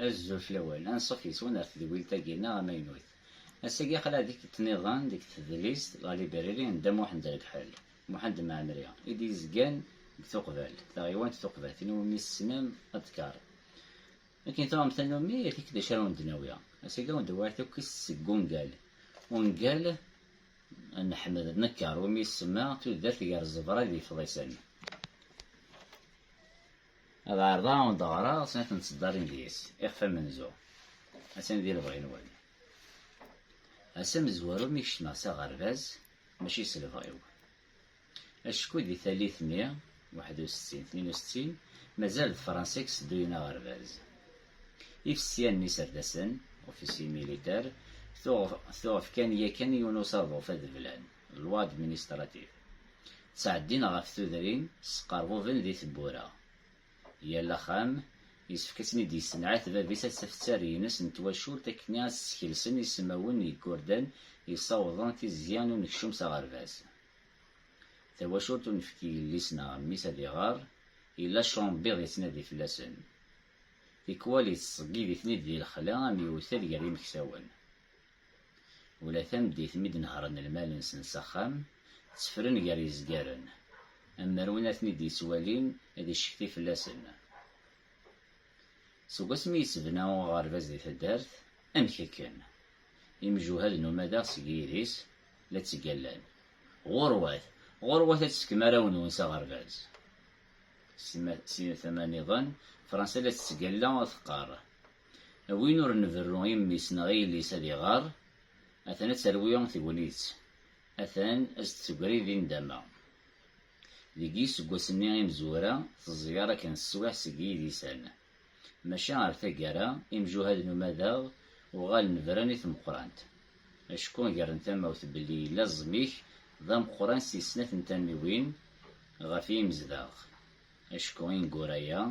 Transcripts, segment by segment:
Azul fell-awen, anṣuf yes-wen ar tedwilt-agi-nneɣ amaynut. Ass-agi aql-aɣ di tiṭ niḍen deg tedlist La Librairie n Dda Muḥend Regḥel, Muḥend Mɛemri, i d-yezgan deg Tuqbalt, taɣiwant Tuqbat, tin iwumi tessnem Adkar. Akken tuɣem tannumi, err-ik d acu ara wen-d-nawi. Ass-agi ad wen-d-awiɣ tukkist seg ungal, ungal n Ḥmed Nekker, iwumi isemma Tudert gar ẓẓebra d yifḍisen. Ad ɛerḍeɣ ad d-ɣreɣ snat n tseddarin deg-s, ixef amenzu. Atan di lebɣi-nwen. Ass amezwaru mi kecmeɣ s aɣerbaz, mačči s lebɣi-w. Acku di tallit mi, waḥed u settin, tnin u settin, mazal d Fransa i yesedduyen aɣerbaz. Ifesyan n yiserdasen, officiers militaires, tuɣ fkan yakan yiwen usaḍuf ad blan. loi administrative, ttɛeddin ɣef tudrin sqerbuben di tewwura. Yal axxam yessefk ad ten-id-yessenɛet bab-is ad taf ttarra-ines n twacult akkenni ad skelsen isemawen n yigerdan yessawḍen tizya n unekcum s aɣerbaz. Tawacult ur nefk i yelli-s neɣ mmi-s ad iɣer, yella cumbiḍ yettnadi fell-asen. Tikwal yettṣeggib-iten-id di lexla am yewtal gar yimeksawen. Ula tameddit mi d-nehren lmal-nsen s axxam, ttefren gar yezgaren. Am mer win ad ten-id-yettwalin, ad iccekti fell-asen. Seg wasmi yettebna uɣerbaz di taddart, amek akken? Imjuhad n umadaɣ seg yidis la ttgallan. Ɣurwat! Ɣurwat ad tefkem arraw-nwen s aɣerbaz! Si tama-nniḍen, Fransa la tettgalla, teqqar. Win ur nberru i mmi-s neɣ i yelli-s ad iɣer, atan ad terwi tegnit, atan ad s-d-tegri di nndama. Deg yiseggasen-nni imezwura, teẓẓyar akken teswiɛt seg yidisan. Maca ar taggara, imjuhad n umadaɣ uɣalen bran i tmeqqrant. Acku gren tamawt belli yella ẓẓmik d ameqqran si snat n tamiwin ɣef yimezdaɣ. Acku ineggura-a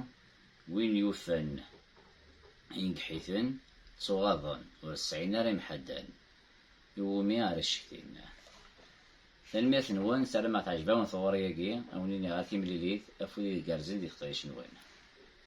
Win yufan ingeḥ-iten, ttuɣaḍen, ur sɛin ara imḥaddan iwumi ara ccektin. Tanemmirt-nwen, sarameɣ teɛjeb-awen tɣuri-agi, a wen-iniɣ a timlilit, afud ideg gerrzen di teqdayect-nwen.